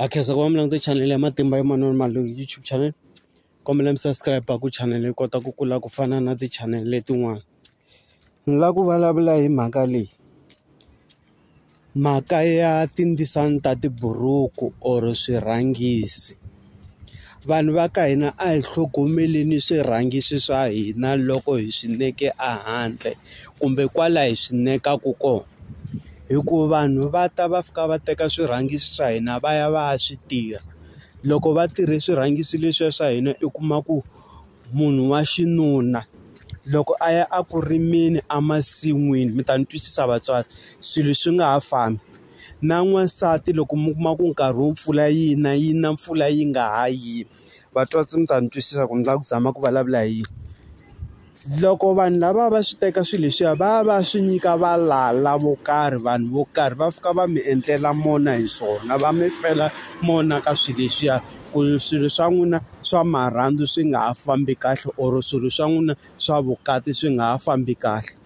a khensa ku va mi langute chanele ya matimba ya manana Malunga YouTube channel kombela mi subscribe ku chanele yi kota ku kula ku fana na ti-channel letin'wana ni la ku vulavula hi mhaka leyi mhaka ya tindzisana ta tiburuku or swirhangisi. Vanhu va ka hina a hi tlhogomeleni swirhangiso swa hina loko hi swi neke ehandle kumbe kwala hi swi nekaka kona hikuva vanhu va ta va fika va teka swirhangiso swa hina va ya va ya swi tirha loko va tirhe swirhangiso leswiya swa hina i kuma ku munhu wa xinuna loko a ya a ku rimeni emasin'wini mi ta ni twisisa vatswari swilo swi nga ha fambi. na n'wansati loko mi kuma ku nkarhi wo mpfula yi na yi na mpfula yi nga ha yimi vatswatsi mi ta ni twisisa ku ni lava ku zama ku vulavula hi yini loko vanhu lava va swi teka swilo leswiya va va swi nyika valala vo karhi vanhu vo karhi va fika va mi endlela mona hi swona va mi fela mona ka swilo leswiya ku swilo swa n'wina swa marhandzu swi nga ha fambi kahle or swilo swa n'wina swa vukati swi nga ha fambi kahle.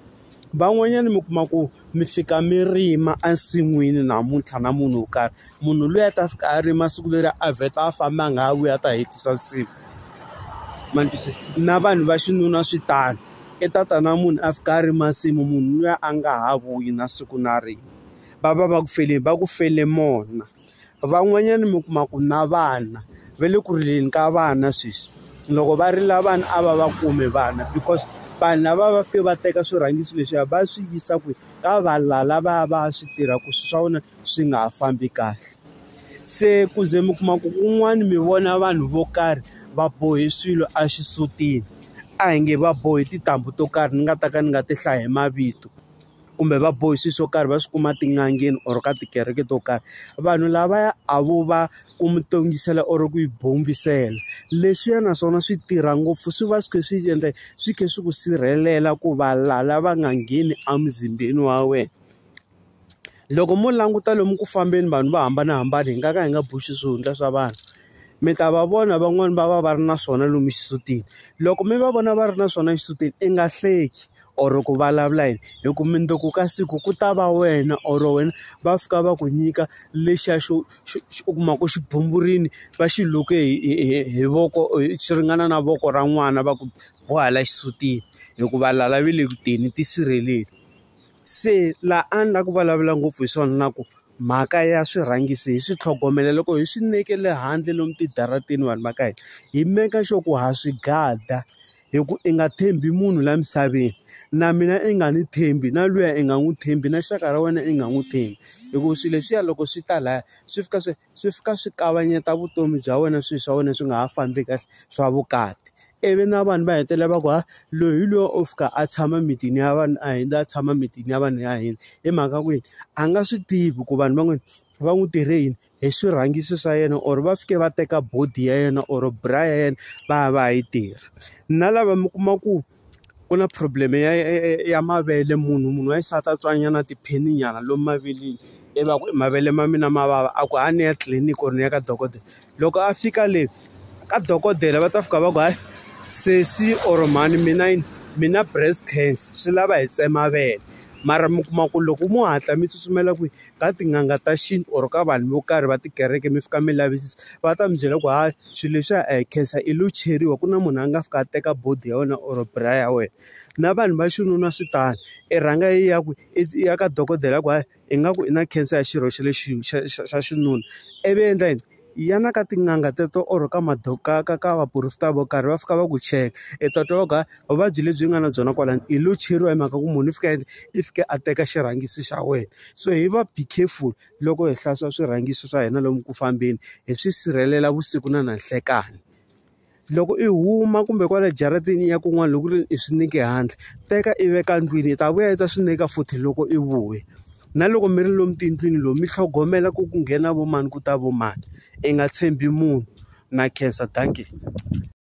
Van'wanyana mi kuma ku mi fika mi rima ensin'wini namuntlha na munhu wo karhi, munhu luya a ta fika a rima siku leri a vheta a famba a nga ha vuyi a ta hetisa nsimu. Ma ni twisisa? Na vanhu va xinuna swi tano, i ta ta na munhu a fika a rima nsimu munhu luya a nga ha vuyi na siku na rin'we. Va va va ku feleni? Va ku fele mona. van'wanyana mi kuma ku na vana va le ku rileni ka vana sweswi loko va rila vana a va va kumi vana because vanhu lava va fike va teka swirhangiso leswiya va swi yisa kwihi ka valala lava va swi tirha ku swilo swa vona swi nga ha fambi kahle se ku ze mi kuma ku kun'wani mi vona vanhu vo karhi va bohe swilo exisutini a hi nge va bohe tintambu to karhi ni nga ta ka ni nga ti hlayi hi mavito. kumbe va bohi swilo swo karhi va swi kuma tin'angeni or ka tikereke to karhi vanhu lavaya a vo va ku mi tongisela or ku yi bombisela leswiya naswona swi tirha ngopfu swi va swi kha swi endla swi kha swi ku sirhelela ku va lala va nga ngheni emuzimbeni wa wena loko mo languta lomu ku fambeni vanhu vo hambanahambana hi nga ka hi nga boxi swihundla swa vanhu mi ta va vona van'wani va va va ri na swona lomu xisutini loko mi va vona va ri na swona exisutini i nga hleki. or ku vulavula yini hi ku mundzuku ka siku ku ta va wena or wena va fika va ku nyika lexiya xo u kuma ku xi bumburini va xi luke hi hi hi voko xi ringana na voko ra n'wana va ku boha la xisutini hikuva lala va le ku teni tisirheleli se laha a ni la ku vulavula ngopfu hi swona na ku mhaka ya swirhangisi hi swi tlhogomela loko hi swi nekele handle lomu tidarateni vanhu va ka hina hi make sure ku ha swi gada. hi ku i nga tshembi munhu laha misaveni na mina i nga ni tshembi na luya i nga n'wi tshembi na xaka ra wena i nga n'wi tshembi hi ku swilo leswiya loko swi ta laya swi fika swi swi fika swi kavanyeta vutomi bya wena swilo swa wena swi nga ha fambi kahle swa vukati ivi na vanhu va hetelela va ku ha loyi hi loyi o fika a tshama mitini ya vanhu a hundza a tshama mitini ya vanhu ya hina hi mhaka ku yini a nga swi tivi ku vanhu van'wani va n'wi tirhe yini. hi swirhangiso swa yena or va fike va teka body ya yena or bra ya yena va ya va ya yi tirha na lava mi kuma ku ku na problem ya ya mavele munhu munhu wa xisati a tswanyana tiphini nyana lomu maveleni i va ku mavele ma mina ma vava a ku ha ni ya tliliniki or ni ya ka dokodela loko a fika le ka dokodela va ta fika va ku hayi sesi or mhani mina yini mina breast cancer swi lava hi tsema vele mara mi kuma ku loko mo hatla mi tsutsumela kwihi. ka tin'anga ta xintu or ka vanhu vo karhi va tikereke mi fika mi lavisisa va ta mi byela ku hayi swilo leswiya a hi khensa i lo cheriwa ku na munhu a nga fika a teka body ya wena or bra ya wena na vanhu va xinuna swi tano i rhanga i ya ku i ya ka dokodela ya ku hayi ingaku i na cancer ya xirho xa le xa xa xa xinuna ivi endla yini. Yana ka tin'anga teto or ka ka ka ka vaporofeta vo karhi va fika va ku cheka i ta twa va ku hayi vuvabyi lebyi nga na byona kwalano hi lo cheriwa hi mhaka ku munhu i fika a endla i fika a teka xirhangisi xa wena so hi va be careful loko hi hlantswa swirhangiso swa hina lomu ku fambeni hi swi sirhelela vusiku na nanhlekani. Loko i huma kumbe kwale jaratini i ya kun'wana loko ku ri i swi neke handle, teka i veka endlwini i ta vuya i ta swi neka futhi loko i vuya. Na loko mi ri lomu tiyindlwini lomu mi tlhogomela ku ku nghena vo mani ku ta vo mani, i nga tshembi munhu. Na khensa dankie.